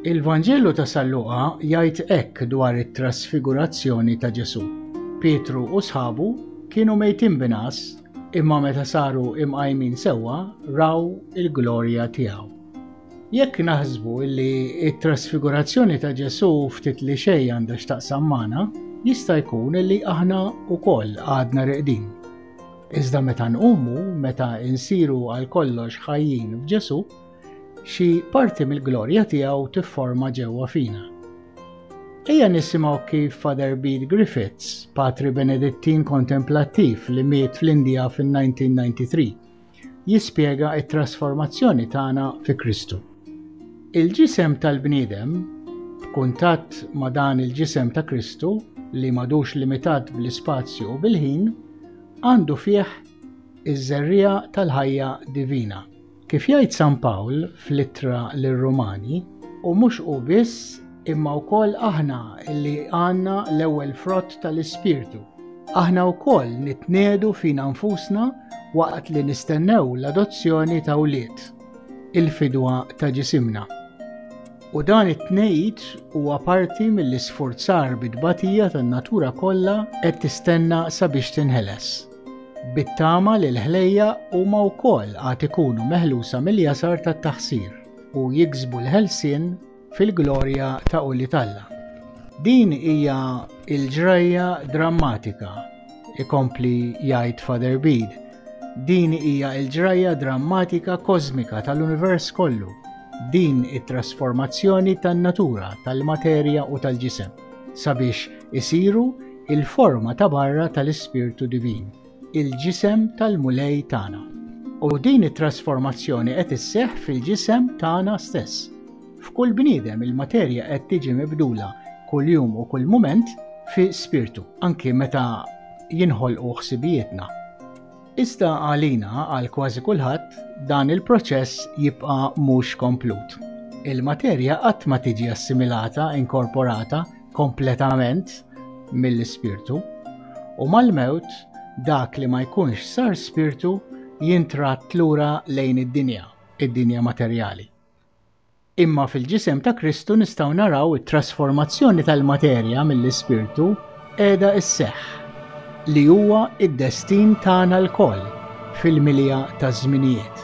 Il-Vanġelu ta' San Luqa jgħid hekk dwar it-trasfigurazzjoni ta' Ġesù. Pietru u sħabu kienu mejtin binas, imma meta saru imqajmin sewwa raw il-glorja tiegħu. Jekk naħsbu li t-trasfigurazzjoni ta' Ġesù ftit li xejn għandha x'taqsam magħna, jista' jkun li aħna wkoll għadna reqdin. Iżda meta nqumu, meta insiru għal kollox ħajjin f'Ġesù, xi parti mill-glorja tiegħu tifforma ġewwa fina. Ejja nisimgħu kif Father Bede Griffiths, patri Benedittin kontemplattiv li miet fl-Indja fin-1993, jispjega t-trasformazzjoni tagħna fi Kristu. Il-ġisem tal-bniedem, b'kuntatt ma' dan il-ġisem ta' Kristu li madux limitat bl-ispazju u bil-ħin, għandu fih iż-żerriegħa tal-ħajja divina. Kif jgħid San Pawl fl-ittra lir-Rumani, u mhux hu biss imma wkoll aħna li għandna l-ewwel frott tal-Ispirtu. Aħna wkoll nitnedu fina nfusna waqt li nistennew l-adozzjoni ta' wlied, il-fidwa ta' ġisimna. U dan it-tnejt huwa parti mill-isforzar bit-tbatija tan-natura kollha qed tistenna sabiex tinħeles. Bit-tama li l-ħlejja huma wkoll għad ikunu meħlusa mill-jasar tat-taħsir u jiksbu l-ħelsien fil-glorja ta' Quli t'Alla. Din hija l-ġrajja drammatika, ikompli jgħid Father Bede, din hija l-ġrajja drammatika kożmika tal-univers kollu, din it-trasformazzjoni tan-natura, tal-materja u tal-ġisem, sabiex isiru l-forma ta' barra tal-Ispirtu Divin. il-ġisem tal-Mulej tagħna. U din it-trasformazzjoni qed isseħħ fil-ġisem tagħna stess. F'kull bniedem il-materja qed tiġi mibdula kuljum u kull mument fi spirtu, anki meta jinħolqu ħsibijietna. Iżda għalina għal kważi kulħadd dan il-proċess jibqa' mhux komplut. Il-materja qatt ma tiġi assimilata, inkorporata kompletament mill-ispirtu, u mal-mewt dak li ma jkunx sar spirtu jintratt lura lejn id-dinja, id-dinja materjali. Imma fil-ġisem ta' Kristu nistgħu naraw it-trasformazzjoni tal-materja mill-ispirtu qiegħda sseħħ, li huwa d-destin tagħna lkoll fil-milja taż-żminijiet.